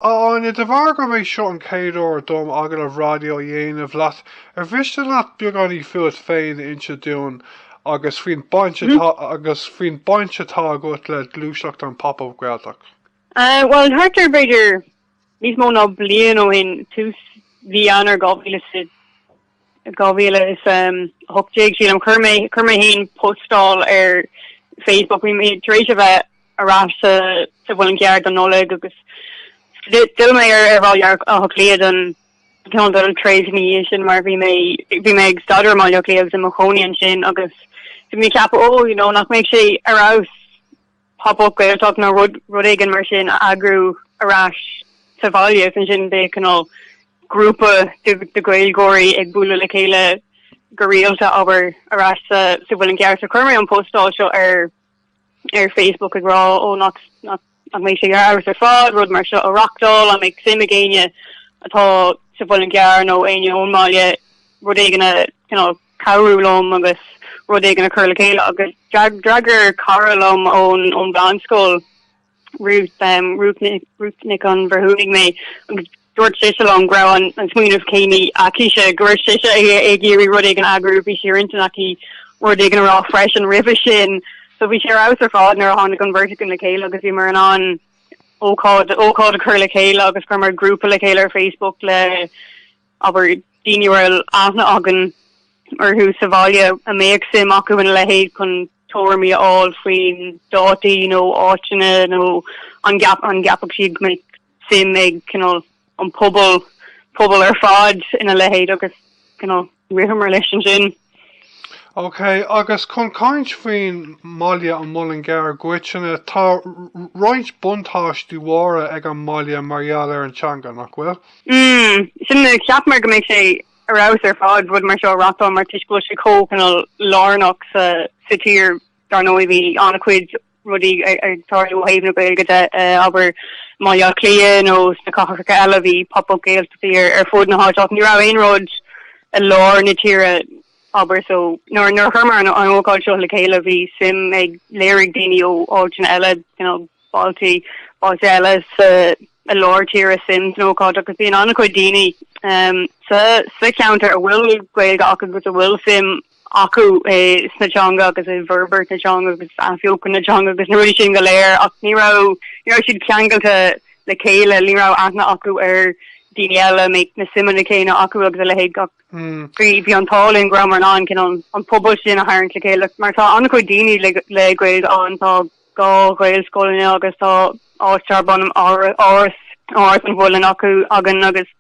A Áine, de bharr gurb é seo an chéad uair dom agallamh raidió a dhéanamh leat, ar mhiste leat beagáinín fút féin a inse dúinn agus faoin baint atá agus faoin baint atá agat le gluaiseacht an Pop-Up Gaeltacht? Bhuel, thart ar b'fhéidir níos mó ná bliain ó shin, tús mhí Eanáir 2020, 2018, sílim, chuir mé, chuir mé fhéin postáil ar Facebook, bhí mé tar éis a bheith ar ais sa, sa Mhuileann gCearr don Nollaig agus d'fhill mé ar, ar Bhaile Átha Cliath don, ceann de na tréimhsí sin mar bhí mé, bhí mé ag staidéar i mBaile Átha Cliath agus i mo chónaí ansin agus bhí mé ag ceapadh, ó, you know, nach mbeadh sé ar fheabhas Pop-up Gaeltacht nó rud éigin mar sin a eagrú ar ais sa bhaile, is ansin bheadh cineál grúpa de Ghaeilgeoirí ag bualadh le chéile go rialta, abair, ar ais sa Mhuileann gCearr. Chuir mé an postáil seo ar Facebook ag rá, Ó, nach mbeadh sé ar fheabhas ar fad rud mar seo a reáchtáil, an mbeadh suim ag éinne atá sa Mhuileann gCearr nó éinne ón mbaile rud éigin a cabhrú liom agus rud éigin a chur le chéile agus d'fhreagair cara liom ón mheánscoil, Ruth, Ruth Ruth Nic an Bhreithiúnaigh mé agus dúirt sise liom go raibh an an smaoineamh céanna aicise, go raibh sise ag iarraidh rud éigin a eagrú, bhí sé ar intinn aici rud éigin a rá freisin roimhe sin. So bhí sé ar fheabhas ar fad nuair a tháinig an bheirt againn le chéile agus bhíomar in ann ócáid ócáid a chur le chéile agus chuireamar grúpa le chéile ar Facebook le abair, daoine a raibh aithne againn orthu sa bhaile a mbeadh suim acu ina leithéid chun tuairimí a fháil faoi na dátaí nó áiteanna nó an gceapfadh siad go mbeadh suim ag cineál an pobal, pobal ar fad ina leithéid agus cineál, ritheamar leis ansin. OK, agus chun caint faoin mbaile, an Muileann gCearr i gcoitinne, tá roinnt buntáistí mhóra ag an mbaile mar gheall ar an teanga, nach bhfuil? Mm, sin a cheapamar go mbeadh sé ar fheabhas ar fad, rud mar seo a reáchtáil mar toisc go bhfuil sé chomh, cineál, lárnach sa, sa tír. Dar ndóigh bhí an-chuid rudaí ag tarlú ó thaobh na Gaeilge de, abair, i mBaile Átha Cliath nó sna cathracha eile, bhí pop up Gaeltachtaí ar fud na háite ach ní raibh aon rud i lár na tíre, abair. So nuair a chuireamar an ócáid seo le chéile bhí suim ag léirigh daoine ó áiteanna eile, you know, bailte, bailte eile sa, i lár tíre suim san ócáid agus bhí an-chuid daoine sa cheantar a bhfuil Gaeilge acu agus a bhfuil suim acu sa teanga agus i bhforbairt na teanga agus athbheochan na teanga agus na rudaí sin go léir ach ní raibh, ní raibh siad ceangailte le chéile, ní raibh aithne acu ar daoine eile, a mbeadh na suimeanna céanna acu agus a leithéid ach bhí, bhí an t-ádh linn go raibh mar an, an cineál, an pobal sin a tharraingt le chéile mar tá an-chuid daoine le, le Gaeilge ann, tá dhá Ghaelscoil ann agus tá áit darb ainm Áras, Áras an Mhuilinn acu, againn agus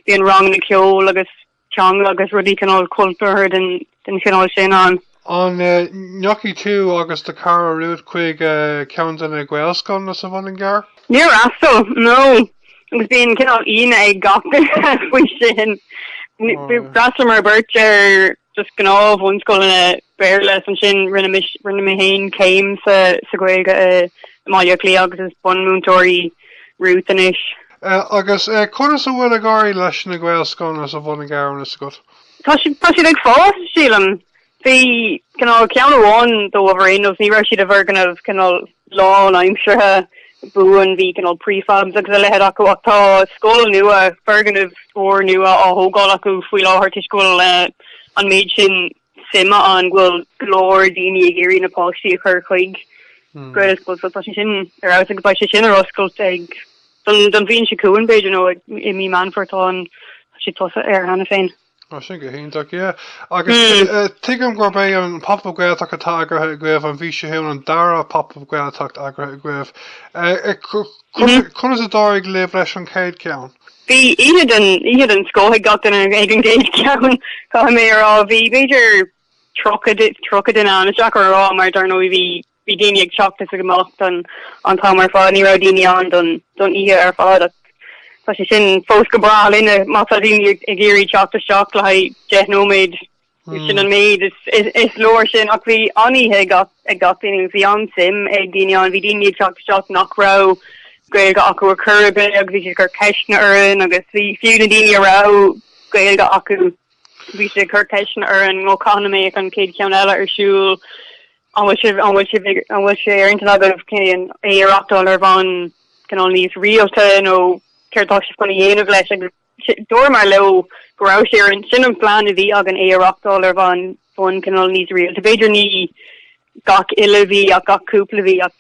bíonn ranganna ceoil agus teanga agus rudaí cineál cultúrtha den den chineál sin ann. An ndeachaigh tú agus do chara Ruth chuig ceann de na Gaelscoileanna sa Mhuileann gCearr? Níor fhreastail, no. Agus bíonn cineál ionadh ag gach duine faoi sin. D'fhreastalaíomar beirt ar just gnáth-bhunscoileanna Béarla, is ansin rinne rinne mé féin céim sa Ghaeilge i mBaile Átha Cliath agus is bunmhúinteoir í Ruth anois. Agus conas a bhfuil ag éirí leis na Gaelscoileanna sa Mhuileann gCearr, an bhfuil a fhios agat? Tá siad ag fás, sílim. Bhí cineál ceann amháin dóibh araon agus ní raibh siad i bhfoirgneamh cineál lánaimseartha buan, bhí cineál prefabs agus a leithéid acu ach tá scoil nua, foirgneamh úr nua á thógáil acu faoi láthair toisc go bhfuil an méid sin suime ann go bhfuil go leor daoine ag iarraidh na páistí a chur chuig Gaelscoil so tá sé sin ar fheabhas agus beidh sé sin ar oscailt don bhliain seo chugainn b'fhéidir nó i mí Mheán Fómhair, tá siad tosaithe air cheana féin. Ó sin go hiontach, yeah. Agus tuigim gurb é an Pop Up Gaeltacht atá eagraithe agaibh an mhí seo chugainn an dara Pop Up Gaeltacht eagraithe agaibh. Conas a d'éirigh libh leis an chéad cheann? Bhí oíche den oíche den scoth ag gach duine ag an gcéad cheann, caithfidh mé a rá. Bhí b'fhéidir tríocha, tríocha duine ann, is deacair a rá mar dar ndóigh bhí, bhí daoine ag teacht is ag imeacht don, an t-am ar fad, ní raibh daoine ann don, don oíche ar fad ach tá sé sin fós go breá linne má tá daoine ag iarraidh teacht isteach le haghaidh deich nóiméad. Sin an méid is leor sin ach bhí an-oíche ag gach duine, bhí an-suim ag daoine ann, bhí daoine ag teacht isteach nach raibh Gaeilge acu ar chor ar bith agus bhí siad ag cur ceisteanna orainn agus bhí fiú na daoine a raibh Gaeilge acu, bhí siad ag cur ceisteanna orainn, cathain a mbeadh an chéad cheann eile ar siúl, an bhfuil sibh, an bhfuil sibh, an bhfuil sé ar intinn agaibh é a reáchtáil ar bhonn cineál níos rialta nó céard atá sibh chun a dhéanamh leis agus Dúramar leo go raibh sé ar intinn, sin an plean a bhí againn é a reáchtáil ar bhonn, bhonn cineál níos rialta, b'fhéidir ní gach uile mhí ach gach cúpla mhí, ach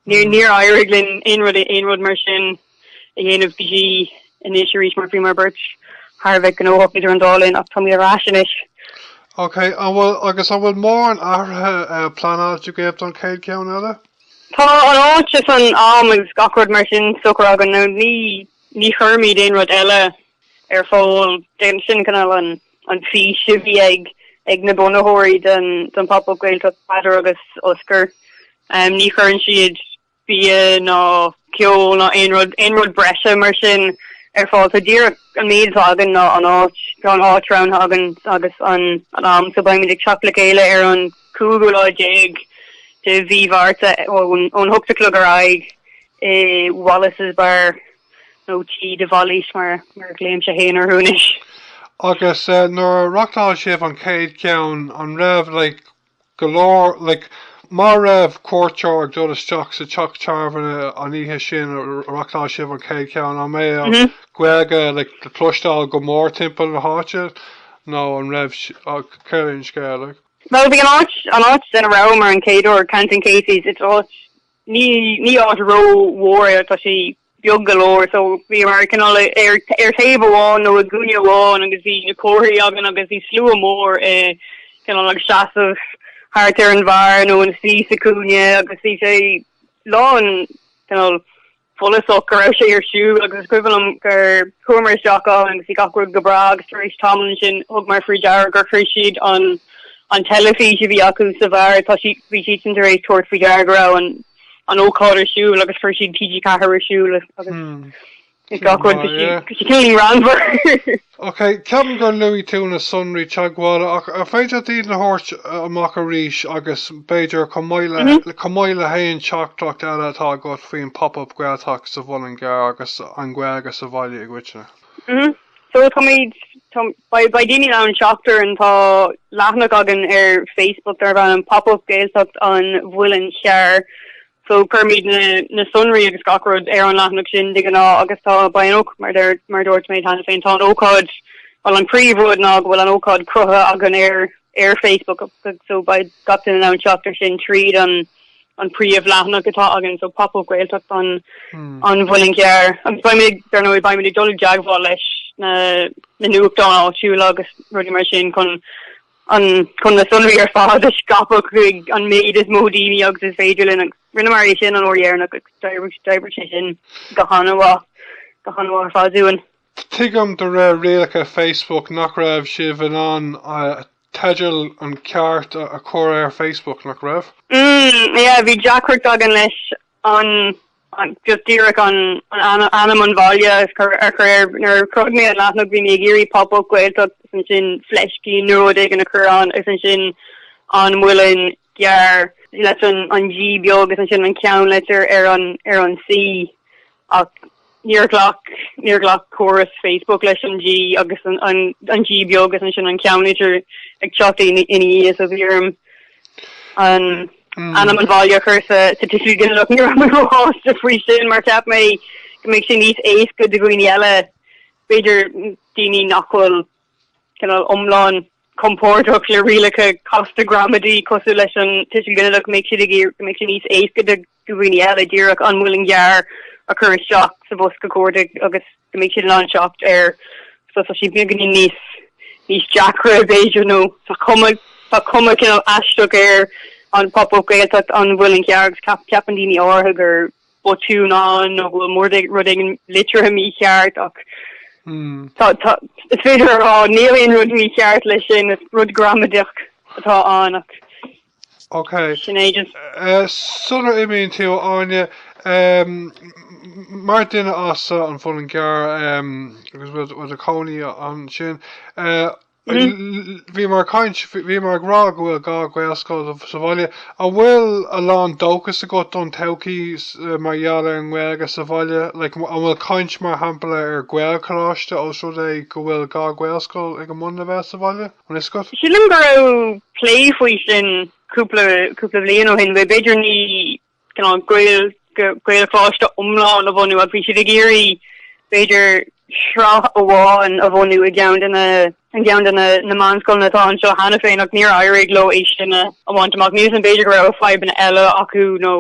níor éirigh linn aon rud aon rud mar sin a dhéanamh go dtí anois arís mar bhíomar beirt thar a bheith gnóthach idir an dá linn ach táimid ar ais anois. Ok, an bhfuil, agus an bhfuil mórán athruithe pleanáilte agaibh don chéad cheann eile? Tá an áit is an am agus gach rud mar sin socraithe againn, ní Ní chuirimid aon rud eile ar fáil d'éinne. Sin cineál an fhís a bhí ag na bunaitheoirí den Phop Up Gaeltacht, Peadar agus Osgur. Ní chuireann siad bia ná ceol ná aon rud breise mar sin ar fáil. Tá díreach an méid atá againn ná an áit. Tá an áit roghnaithe againn agus an t-am. So beimid ag teacht le chéile ar an cúigiú lá déag de mhí Mhárta ón hocht a chlog ar aghaidh. i Wallace's Bar, nó Tigh de Bhailís mar a ghlaoimse fhéin orthu anois. Agus nuair a reachtáil sibh an chéad cheann, an raibh like go leor like má raibh cuairteoir ag dul isteach sa teach tábhairne an oíche sin a reachtáil sibh an chéad cheann, an mbeadh Gaeilge like le cloisteáil go mór timpeall na háite nó an raibh, céard é an scéal? Bhuel, bhí an áit, an áit ina rabhamar an chéad uair, Canton Casey's, it's áit Ní ní áit ró mhór é, tá sé beag go leor, so bhíomar cineál ar ar thaobh amháin nó i gcúinne amháin agus bhí na comharthaí againn agus bhí slua mór i cineál ag seasamh thart ar an bheár nó ina suí sa chúinne agus bhí sé lán cineál follasach go raibh sé ar siúl agus is cuimhin liom gur chuamar isteach ann agus bhí gach rud go breá agus tar éis tamaill ansin thugamar faoi deara gur chuir siad an an teilifís a bhí acu sa bheár tá siad bhí siadsan tar éis tabhairt faoi deara go raibh an an ócáid ar siúl agus chuir siad TG4 ar siúl agus is gach rud bhí sé bhí sé cineál greannmhar Ok, ceapaim gur luaigh tú na sonraí teagmhála, ach ar féidir leat iad a thabhairt amach arís, agus b'fhéidir, chomh maith le, chomh maith le haon teachtaireacht eile atá agat faoin pop-up Gaeltacht sa Mhuileann gCearr agus an Ghaeilge sa bhaile i gcoitinne? Mhm. So táimid, tá, beidh, beidh daoine in ann teacht orainn, tá leathanach againn ar Facebook darb ainm Pop-up Gaeltacht an Mhuilinn Chearr, So, cuirimid na sonraí agus gach rud ar an leathanach sin de ghnáth agus tá beidh an óc, mar a dúirt mé cheana féin, tá an ócáid, bhuel an príomhrud ná go bhfuil an ócáid cruthaithe againn ar ar Facebook, so beidh gach duine in ann teacht air sin tríd an an príomhleathanach atá againn, so Pop Up Gaeltacht an an Mhuilinn Chearr. Agus beimid, dar ndóigh, beimid ag dul i dteagmháil leis na na nuachtáin áitiúla agus rudaí mar sin chun an chun na sonraí ar fad a scaipeadh chuig an méid is mó daoine agus is féidir linn, agus rinneamar é sin an uair dheireanach, agus d'oibrigh, d'oibrigh sé sin go han-mhaith, go han-mhaith ar fad dúinn. Tuigim de réir rialacha Facebook nach raibh sibh in ann teideal an cheart a chur ar Facebook, nach raibh? Mm, yeah, bhí deacracht againn leis an just díreach an ainm an bhaile a chur a chur air. Nuair a chruthaigh mé an leathanach bhí mé ag iarraidh pop up Gaeltacht agus ansin fleiscín nó rud éigin a chur ann agus ansin an Muileann gCearr leis an G beag agus ansin an ceannleitir ar an C ach Níor ghlac, níor ghlac córas Facebook leis an G agus an, an, an G beag is ansin an ceannlitir ag teacht ina, ina dhiaidh sa bhfíoram. An t-ainm an bhaile a chur sa, sa tuiseal ginideach, ní raibh mé róshásta faoi sin mar cheap mé go mbeadh sé níos éasca do dhaoine eile, b'fhéidir daoine nach bhfuil cineál iomlán compordach le rialacha casta gramadaí cosúil leis an tuiseal ginideach, go mbeadh siad ag iarr, go mbeadh sé níos éasca do, do dhaoine eile díreach an Muileann gCearr a chur isteach sa bhosca cuardaigh agus go mbeidh siad in ann teacht air so tá sé beagáinín níos níos deacra b'fhéidir nó tá cuma tá cuma cineál aisteach ar an pop-up Gaeltacht an Muileann gCearr agus ceap ceapann daoine áirithe gur botún ann nó go bhfuil, bhuel, rud éigin litrithe mícheart ach hmm. tá is féidir a rá níl aon rud mícheart leis sin is rud gramadach atá ann ach. Ok. Sin é just. Sular imíonn tú, Áine, mar duine as an Muileann gCearr, agus a bhfuil cónaí ansin, bhí mé ag caint, bhí mé ag rá go bhfuil dhá Ghaelscoil sa bhaile. An bhfuil a lán dóchas agat don todhchaí mar gheall ar an nGaeilge sa bhaile? Like, an bhfuil caint, mar shampla, ar Ghaelcholáiste os rud é go bhfuil dhá Ghaelscoil ag an mbunleibhéal sa bhaile? anois? Go. Sílim go raibh plé faoi sin cúpla cúpla bliain ó shin, b'fhéidir, ní cineál Gael Gaelcholáiste iomlán a bhunú, ach bhí siad ag iarraidh, b'fhéidir, sraith amháin a bhunú i gceann de na i gceann de na na meánscoileanna atá anseo cheana féin, ach níor éirigh leo é sin a bhaint amach. Níl 'fhios a'm, b'fhéidir go raibh fadhbanna eile acu nó.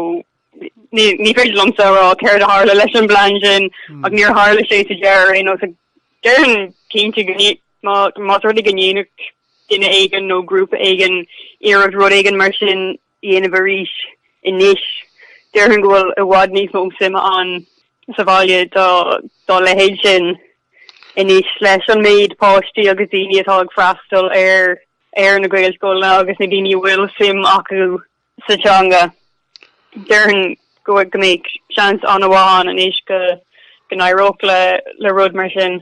Ní féidir liomsa a rá céard a tharla leis an bplean sin ach níor tharla sé sa deireadh ar aon nós. Déarfainn cinnte go más rud é go ndéanfadh duine éigin nó grúpa éigin iarracht rud éigin mar sin a dhéanamh arís anois, déarfainn go bhfuil i bhfad níos mó suime ann sa bhaile dá leithéid sin anois leis an méid páistí agus daoine atá ag freastal ar na Gaelscoileanna agus na daoine a bhfuil suim acu sa teanga. Déarfainn go bhfuil go mbeadh seans an-mhaith ann anois go n-éireodh le rud mar sin.